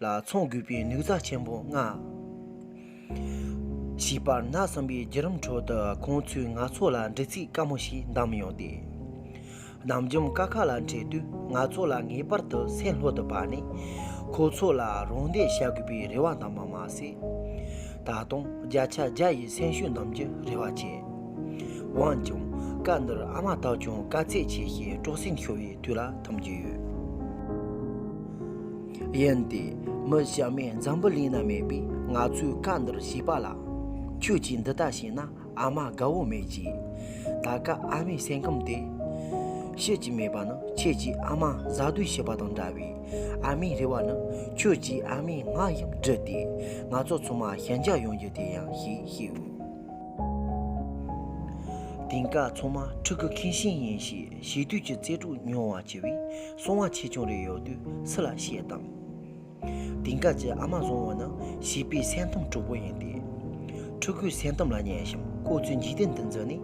ལ་ཚོང་དགོས་པའི་ནུས་རྩལ་ཆེན་པོ་མངའ། ཞེས་པར་གནའ་བསམ་པའི་བརྒྱུད་རིམ་ཁྲོད་དུ་ཁོང་ཚོས་ང་ཚོ་ལ་འདྲི་ཚིག་དཀའ་མོ་ཞིག་བདམས་ཡོང་སྟེ། ནམ་རྒྱུན་ཀ་ཁ་ལ་འཕྲད་དུས་ང་ཚོ་ལ་ངེས་པར་དུ་སེམས་ལྷོད་དུ་བབས་ནས་ཁོ་ཚོ་ལ་རོགས་འདེགས་བྱ་དགོས་པའི་རེ་བ་བདམས་པ་མ་ཟད། ད་དུང་བརྒྱ་ཆ་བརྒྱ་ཡི་སེམས་ཤུགས་འདོན་རྒྱུའི་རེ་བ་བཅས། འོན་ཀྱང་སྐབས་འདིར་ཨ་མ་དག་ཀྱང་དཀའ་ཚེགས་ཆེ་ཞིང་སྤྲོ་གསེང་ཤོར་བའི་དུས་ལ་འཐམ་གྱི་ཡོད། ཡིན་ཏེ། མི་གཞན་མའི་འཛམ་བུ་གླིང་ན་མེད་པའི་ང་ཚོའི་ཁ་འདིར་ཞིག་པ་ལ། ཁྱོད་ཀྱིས་འདི་ལྟ་བྱས་ན་ཨ་མ་དགའ་བོ་མེད་ཅེས། ད་ག་ཨ་མའི་སེམས་ཁམས་དེ། ཤེས་ཀྱི་མེད་པ་ནི་ཁྱེད་ཀྱིས་ཨ་མ་གཟའ་སྡོད་བྱས་པ་དང་འདྲ་བས། ཨ་མའི་རེ་བ་ནི་ཁྱོད་ཀྱིས་ཨ་མའི་ངག་ཡང་བྲིས་ཏེ། ང་ཚོ་ཚང་མ་ཞི་འཇགས་ཡོང་རྒྱུ་དེ་ཡིན་ཞེས་བཤད། དེང་སྐབས་ཚང་མ་ཕྲུ་གུ་ཁེངས་ཤིང་ཡིན་ཞེས་བྱིས་དུས་ཀྱི་རྩེད་སྤྲུགས་མྱོང་བ་ཆེ་བས། སོང་བ་ཆེ་ཆུང་རེ་ཡོད་དུས་སུ་ལ་བཤད་དམ། དེང་སྐབས་ཀྱི་ཨ་མ་བཟང་བོ་ནི་བྱིས་པའི་སེམས་གཏམ་དྲུག་པོ་ཡིན་ཏེ། ཕྲུ་གུའི་སེམས་གཏམ་ལ་ཉན་ཞིང་ཁོ་ཚོའི་འཇིག་རྟེན་འདི་འཛིན་ནས་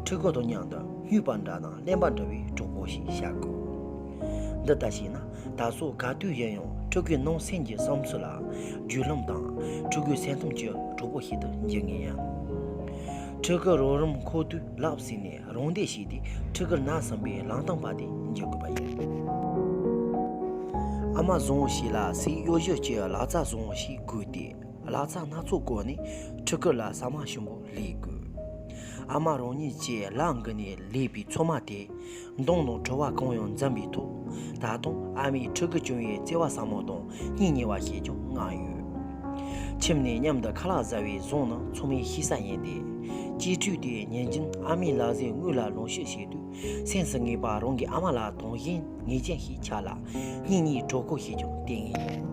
ཕྲུ་གུ་དང་མཉམ་དུ་སྨྱོས་པ་འདྲ་ནང་བརླན་པ་འདྲ་བའི་གྲོགས་པོ་ཞིག་བྱ་དགོས། འདི་ལྟར་བྱས་ན་ད་གཟོད་ག་དུས་ཡིན་ཡང་ཕྲུ་གུའི་ནང་སེམས་ཀྱི་བསམ་ཚུལ་ལ་རྒྱུས་ལོན་དང་ཕྲུ་གུའི་སེམས་གཏམ་གྱི་གྲོགས་པོ་ཞིག་ཏུ་འགྱུར་ངེས་ཡིན། ཕྲུ་གུ་རོགས་རམ་མཁོ་དུས་ལབ་ཟིན་ནས་རང་བདེ་ཞིག་སྟེ་ཁྲི་ཀར་ནག་བསམ་པའི་ལང་སྟངས་པ་དེ་འཇལ་དགོས་པ་ཡིན། ཨ་མ་བཟང་བོ་ཞིག་ལ་སའི་གཡོ་བྱུར་གྱི་ལག་རྩལ་བཟང་བོ་ཞིག་དགོས་ཏེ་ལག་རྩལ་སྣ་ཚོགས་བཀོལ་ནས་ཁྲི་ཀར་ལ་ཟ་མ་ཞིམ་པོ་ལས་དགོས། ཨ་མ་རང་ཉིད་ཀྱི་ལག་འགུལ་ནས་ལས་པའི་འཚོ་མ་དེས་མདང་དང་བྲོ་བ་གང་ཡང་འཛམ་པའི་ཐོག་ད་དུང་ཨ་མའི་ཁྲི་ཀར་བྱུང་བའི་བརྩེ་བ་ཟབ་མོ་དང་གཉིད་ཉལ་བ་ཞེས་ཀྱང་བསྔགས་ཡོད། ཁྱིམ་ནས་མཉམ་དུ་ཁ་ལག་བཟའ་བའི་གཟུངས་ནི་མཚོ་མོའི་ཤི་ས་ཡིན་ཏེ། སྐྱེས་དུས་དེ་ཉིན་རྒྱུན་ཨ་མའི་ལག་ཟས་དངུལ་ལ་ལོངས་ཤིག་བྱེད་དུས་སེམས་སུ་ངེས་པར་རང་གི་ཨ་མ་ལ་དང་བཞིན་ངེས་ཅན་ཞིག་ཆགས་ལ་གཉིད་ཉལ་གྲོགས་པོ་ཞེས་ཀྱང་བསྟེན་ངེས་ཡིན།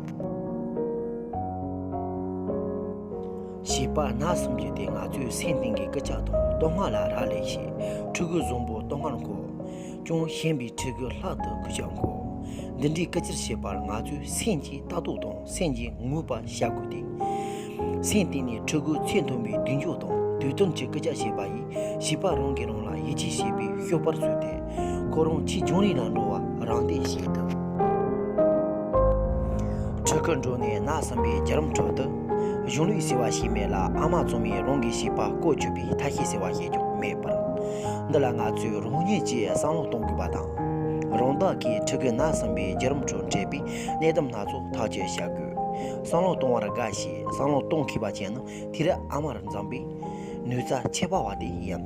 བྱིས་པ་ན་གསུམ་གྱི་དེ་ང་ཚོའི་སེམས་གཏིང་གི་སྐུལ་ལྕག་དང་བསྟོད་བསྔགས་ལ་རག་ལས་ཤིང་ཕྲུ་གུ་བཟང་པོ་བསྟོད་བསྔགས་མཁོ། ཅུང་ཞན་པའི་ཕྲུ་གུ་ལྷག་ཏུ་གུས་ཕྱག་མཁོ། འདི་འདྲའི་བཀའ་ཁྱེར་བཞེས་པར་ང་ཚོས་སེམས་ཀྱི་ལྟ་རྟོག་དང་སེམས་ཀྱི་ངུས་པ་བཤགས་དགོས་ཏེ། སེམས་གཏིང་ནས་ཕྲུ་གུའི་ཚེ་མཐོན་པོའི་མདུན་ཕྱོགས་དང་དུས་བསྟུན་གྱི་སྐུལ་ལྕག་བྱས་པ་ཡིས་བྱིས་པ་རང་གིས་རང་ལ་ཡིད་ཆེས་བྱེད་པའི་ཤོག་པར་བཟོས་ཏེ། ཁོ་རང་ཕྱིའི་བྱུང་རིམ་ལ་འགྲོ་བར་རང་བརྟེན་བྱེད་ཐུབ། ཕྲུ་གུ་འགྲོ་ནས་ན་བསམ་པའི་རྒྱ་རམ་ཁྲོད་དུ། གཞུང་ལུགས་ཟེར་བ་ཞིག་མེད་ལ་ཨ་མ་བཙུན་མས་རང་གི་བྱིས་པ་བཀོལ་སྤྱོད་པའི་ཐབས་ཤེས་ཟེར་བ་ཞིག་ཀྱང་མེད་པར། འདི་ལ་ང་ཚོས་རང་ཉིད་ཀྱིས་བསམ་བློ་གཏོང་དགོས་པ་དང། རང་བདག་གི་ཕྲུ་གུ་ནར་སོན་པའི་བརྒྱུད་རིམ་ཁྲོད་འཕྲད་པའི་གནད་དོན་སྣ་ཚོགས་ཐག་གཅོད་བྱ་དགོས། བསམ་བློ་གཏོང་བར་དགའ་ཞེས་བསམ་བློ་གཏོང་མཁས་པ་ཅན་ནི་དུས་རབས་ཨ་མར་འཛངས་པའི་ནུས་རྩལ་ཁྱད་པར་བ་དེ་ཡིན།